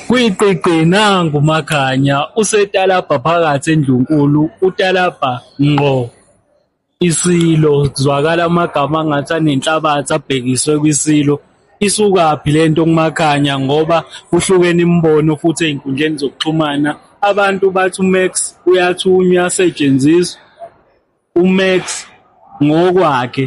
Gwiqiqi nangu uMakhanya usetalabha phakathi endlunkulu utalabha ngqo isilo kuzwakala amagama angathi anenhlabathi abhekiswe kwisilo isukaphi le nto kuMakhanya ngoba kuhlukene imibono futhi ey'nkundleni zokuxhumana abantu bathi uMax uyathunywa uyasetshenziswa uMax ngokwakhe.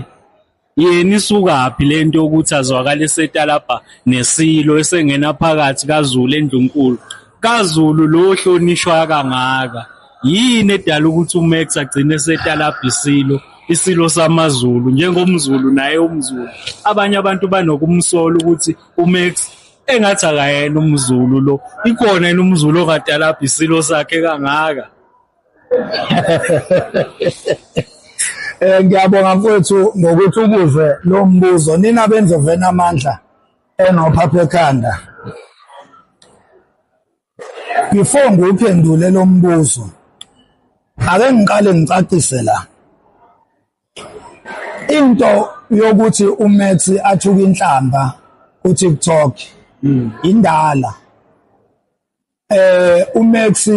yena isukaphi lento yokuthi azwakala esetalabha nesilo esengena phakathi kaZulu endlunkulu kaZulu lo hlonishwa kangaka yini edala ukuthi uMax agcine esetalabha isilo isilo samaZulu njengomZulu naye umZulu abanye abantu banokumsola ukuthi uMax engathi akayena umZulu lo ikhona yena umZulu ongatalabha isilo sakhe kangaka Eh ngiyabonga mfowethu ngokuthi ubuze lo mbuzo nina benzo vena amandla enophaphe ekhanda. Before ngiwuphendule lo mbuzo ake ngiqale ngicacise la. Into yokuthi uMax athuka inhlamba kuTikTok hmm. indala. eh uMax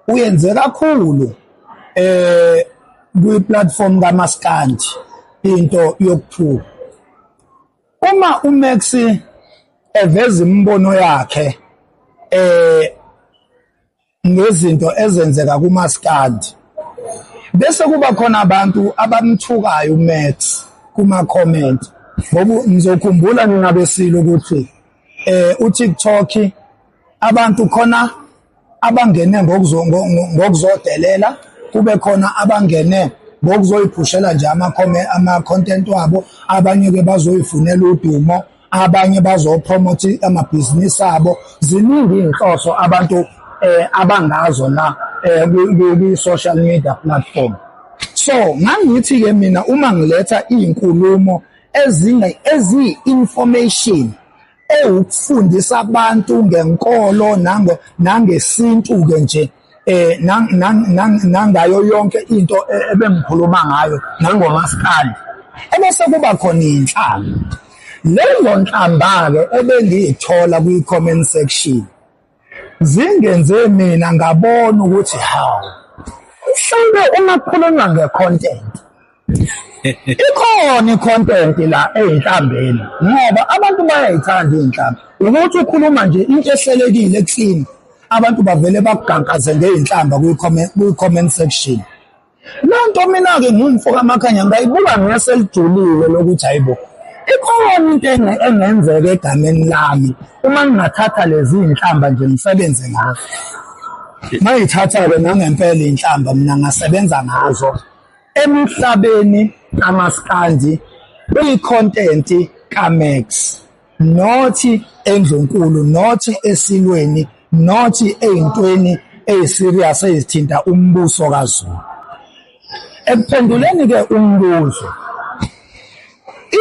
uyenze kakhulu eh kwi platform kaMaskandi into yokuthuka uma uMax eveza imibono yakhe eh ngezinto ezenzeka kuMaskandi bese kuba khona abantu abamthukayo uMax kuma comment ngoba ngizokhumbula ningabesile ukuthi eh uTikTok abantu khona abangene ngokuzodelela kube khona abangene ngokuzoyiphushela nje ama-content wabo abanye-ke bazoyifunela udumo abanye bazopromotha amabhizinisi abo ziningi iy'nhloso abantu eh abangazo na eh, kwi-social media platform so ngangithi-ke mina uma ngiletha iy'nkulumo eziyi-information ewukufundisa abantu ngenkolo nango nangesintu ke nje eh nangayo yonke into e, ebengikhuluma ngayo nangomaskandi ebese kuba khona inhlamba leyo nhlamba ke ebengiyithola kwi comment section zingenze mina ngabona ukuthi hawu mhlawumbe uma kukhulunywa nge-content ikhona i-content la eyinhlambeni ngoba abantu bayayithanda iy'nhlambi ukuthi ukhuluma nje into ehlelekile ekuthini abantu bavele bakugankaze ngey'nhlamba kwi-comment section Le nto mina-ke ngingumfo kamakhanya ngayibuka ngase lijulile lokuthi hayi bo ikhona into engenzeka egameni lami uma ngingathatha lezi iy'nhlamba nje ngisebenze ngazo ngayithatha-ke nangempela iy'nhlamba mina ngasebenza ngazo emhlabeni kamaskandi kwikhontent kaMax nothi endlunkulu nothi esilweni nothi ey'ntweni ey'serious ezithinta umbuso kaZulu ekuphenduleni-ke umbuzo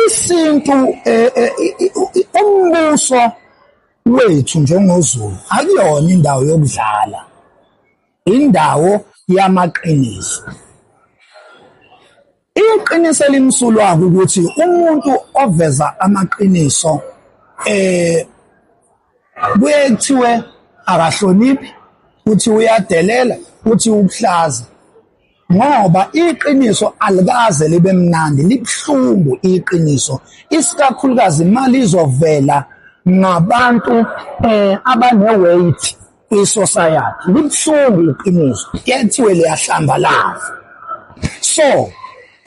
isintu eh, eh, umbuso wethu njengoZulu akuyona indawo yokudlala Indawo yamaqiniso. Iqiniso elimsulwa ukuthi umuntu oveza amaqiniso eh kuye kuthiwe akahloniphi, uthi uyadelela, uthi ukuhlaza. ngoba iqiniso alikaze libe mnandi libuhlungu iqiniso isikakhulukazi imali izovela ngabantu eh abaneweight kwisociety libuhlungu iqiniso kuyathiwe liyahlambalaza so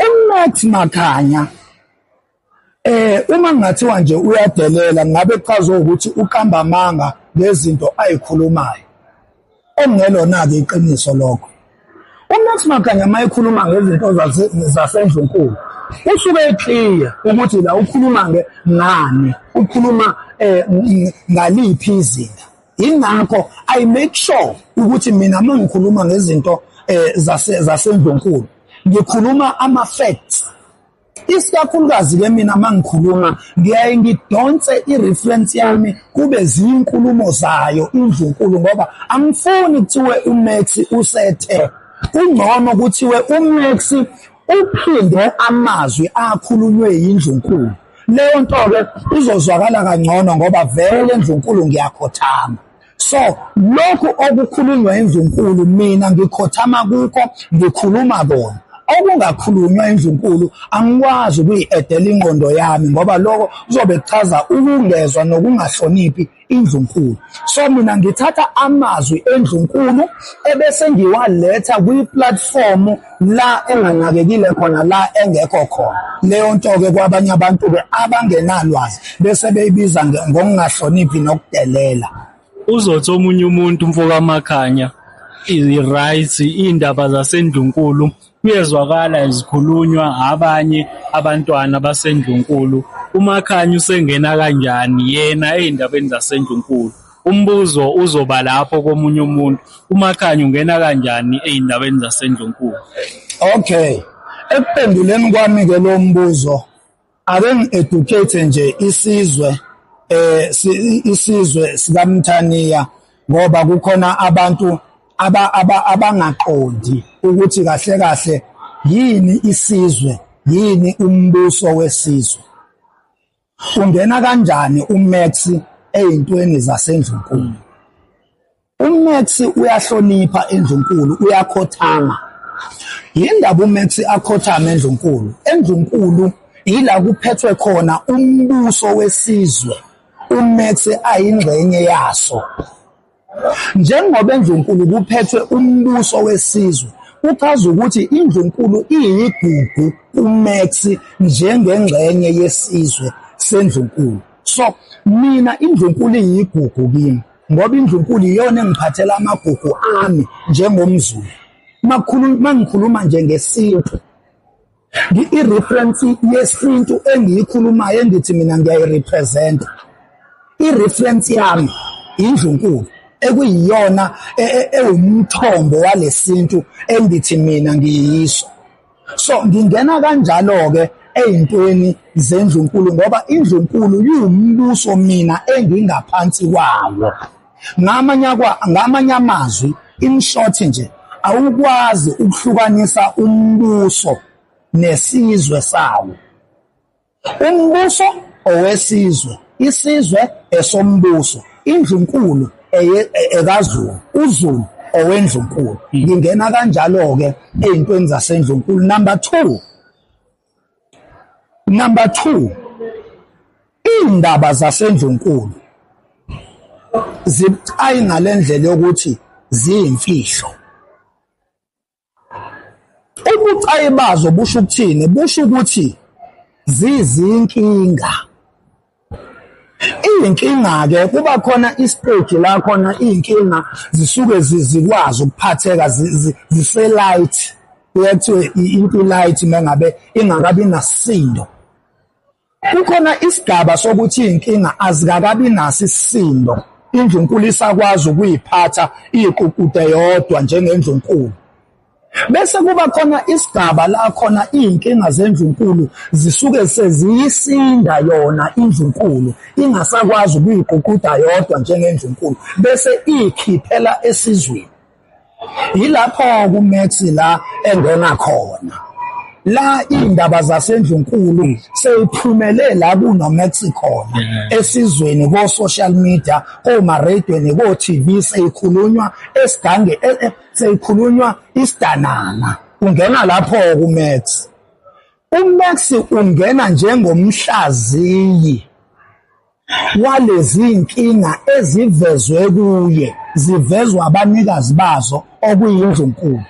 uNathi Makhanya Eh uma ngathiwa nje uyadelela ngabe kuchaza ukuthi uqamba amanga ngezinto ayikhulumayo. Okungelona ke iqiniso lokho. UMax Maganya uma ekhuluma ngezinto zasendlunkulu usuke eclear ukuthi la ukhuluma nge ngani, ukhuluma eh ngaliphi izinga. Ingakho I make sure ukuthi mina uma ngikhuluma ngezinto eh zasendlunkulu ngikhuluma ama facts Isikakhulukazi ke mina mangikhuluma ngiyaye ngidonse i-reference yami kube ziyinkulumo zayo indlunkulu ngoba angifuni kuthiwe uMax usethe kungcono kuthiwe uMax uphinde amazwi akhulunywe yindlunkulu leyo nto-ke izozwakala kangcono ngoba vele ndlunkulu ngiyakhothama So lokhu okukhulunywa indlunkulu mina ngikhothama kukho ngikhuluma kona okungakhulunywa indlunkulu angikwazi ukuyi-edela ingqondo yami ngoba lokho kuzobe kuchaza ukungezwa nokungahloniphi indlunkulu so mina ngithatha amazwi endlunkulu ebese ngiwaletha kwi-platform la enganakekile khona la engekho khona leyo nto-ke kwabanye abantu-ke abangenalwazi bese beyibiza ngokungahloniphi nokudelela uzothi omunye umuntu mfokamakhanya i-rights iy'ndaba zasendlunkulu kuyezwakala zikhulunywa abanye abantwana basendlunkulu umakhanya usengena kanjani yena ey'ndabeni zasendlunkulu Umbuzo uzoba lapho komunye umuntu. UMakhanya ungena kanjani ey'ndabeni zaseNdlunkulu? Okay. Ekuphenduleni kwami-ke lo mbuzo ake ngi-educate nje isizwe eh isizwe sikaMthaniya ngoba kukhona abantu abangaqondi ukuthi kahle kahle yini isizwe yini umbuso wesizwe Ungena kanjani uMax eyintweni zasendlunkulu? UMax uyahlonipha endlunkulu, uyakhothama. Yindaba uMax akhothama endlunkulu. Endlunkulu yila kuphethwe khona umbuso wesizwe. UMax ayingxenye yaso. Njengoba eNdlunkulu kuphethwe umbuso wesizwe, kuchaza ukuthi iNdlunkulu iyigugu kuMax njengengxenye yesizwe seNdlunkulu. So, mina iNdlunkulu iyigugu kimi ngoba iNdlunkulu iyona engiphathela amagugu ami njengomZulu. Uma ngikhuluma nje ngesintu. I-reference yesintu engiyikhulumayo engithi mina ngiyayirepresenta i-reference yami indlunkulu ekuyiyona e, e, ewumthombo walesintu engithi mina ngiyiso so ngingena kanjalo-ke ey'ntweni zendlunkulu ngoba indlunkulu yiwumbuso mina engingaphansi kwawo Ngamanye amazwi, in short nje, awukwazi ukuhlukanisa umbuso nesizwe sawo. Umbuso owesizwe, isizwe esombuso, indlunkulu ekaZulu, uZulu owendlunkulu. Ngingena kanjalo-ke ey'ntweni zasendlunkulu. Number two, Number 2 indaba zasendlunkulu zibucayi ngalendlela yokuthi ziyimfihlo. Ubucayi bazo busho ukuthini? Busho ukuthi zizinkinga Iyinkinga-ke kuba khona isiteji la khona iy'nkinga zisuke zikwazi ukuphatheka zise-light, kuye kuthiwe into i-light uma ngabe ingakabi nasisindo. Kukhona isigaba sokuthi iy'nkinga azikakabi naso isisindo, indlunkulu isakwazi ukuy'phatha iyiququde yodwa njengendlunkulu. Bese kuba khona isigaba la khona iy'nkinga zendlunkulu zisuke seziyisinda yona indlunkulu ingasakwazi ukuyiguquda yodwa njengendlunkulu bese iyikhiphela esizweni. Yilapho kuMax la engena khona. La iy'ndaba zasendlunkulu sey'phumele la kunoMax khona esizweni ko-social media, komareyidweni, ko-TV sey'khulunywa esigange e, e, seyikhulunywa isidanana ungena lapho kuMax uMax ungena njengomhlaziyi walezi nkinga ezivezwe kuye zivezwa abanikazi bazo okuyindlunkulu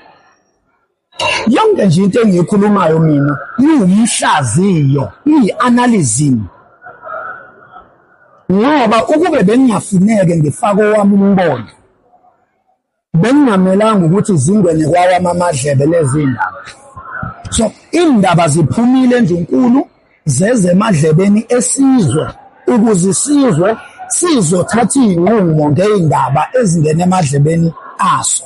yonke nje into engiyikhulumayo mina iwumhlaziyo iyi-analyzim ngoba ukube bengingafuneke ngifake owami umbono Bekungamelanga ukuthi zingene kwawami amadlebe lezi ndaba. So iy'ndaba ziphumile endlunkulu zeze emadlebeni esizwe ukuze isizwe sizothatha iy'nqumo ngey'ndaba ezingena emadlebeni aso.